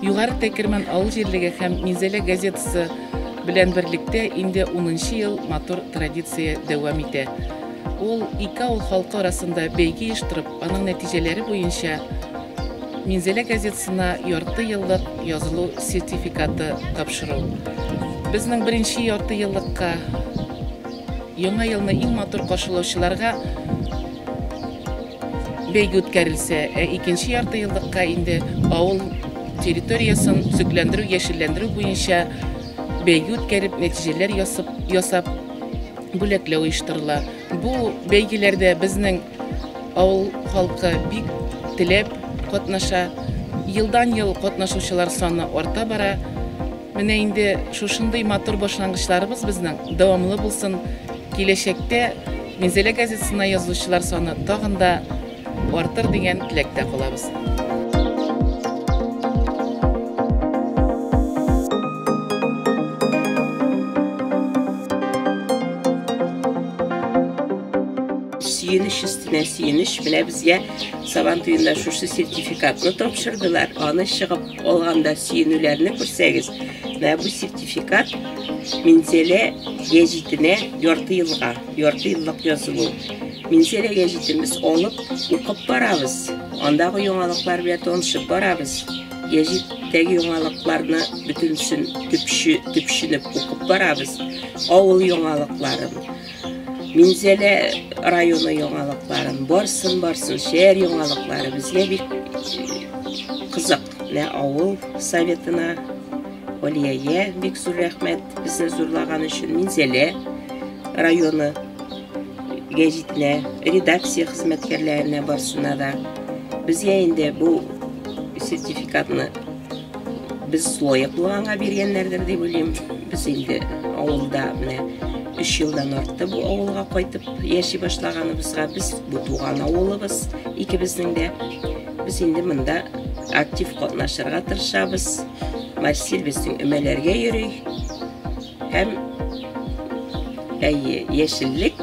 Югары Тәкерман авыл җирлеге һәм Минзәлә газетасы белән берлектә инде 10 ел матур традиция дәвам итә. Ул ике авыл халкы арасында бәйге оештырып, аның нәтиҗәләре буенча Минзәлә газетасына ярты еллык язылу сертификаты тапшыру. Безнең беренче ярты еллыкка Яңа елны иң матур каршылаучыларга бәйге үткәрелсә, ә икенче яртыеллыкка инде авыл территориясен төзекләндерү, яшелләндерү буенча бәйге үткәреп, нәтиҗәләр ясап, бүләкләү оештырыла. Бу бәйгеләрдә безнең авыл халкы бик теләп катнаша. Елдан-ел катнашучылар саны арта бара. Менә инде шушындый матур башлангычларыбыз безнең дәвамлы булсын. Киләчәктә Минзәлә газетасына язучылар саны тагын да артыр дигән теләктә калабыз. сөенеч өстенә сөенеч менә безгә сабан туенда шушы сертификатны тапшырдылар аны чыгып Алганда сөенүләрне күрсәгез, менә бу сертификат Минзәлә гәҗитенә ярты елга, ярты еллык язылу. Минзәлә гәҗитемез алып, укып барабыз. Андагы яңалыклар белән танышып барабыз. Гәҗиттәге яңалыкларны бөтенсен төпче, төпченеп укып барабыз. Авыл яңалыкларын, Минзәлә районы яңалыкларын, барсын, барсын, шәһәр яңалыклары безгә бик кызык. Менә авыл советына, Олияя бик зур рәхмәт безне зурлаган өчен, Минзәлә районы гәҗитенә, редакция хезмәткәрләренә барсына да. Безгә инде бу сертификатны Без лаеклы аңа биргәннәрдер дип уйлыйм. Без инде авылда менә өч елдан артты бу авылга кайтып яши башлаганыбызга. Без бу туган авылыбыз икебезнең дә. Без инде монда актив катнашырга тырышабыз. Марсель безнең өмәләргә йөри. Һәм әйе, яшеллек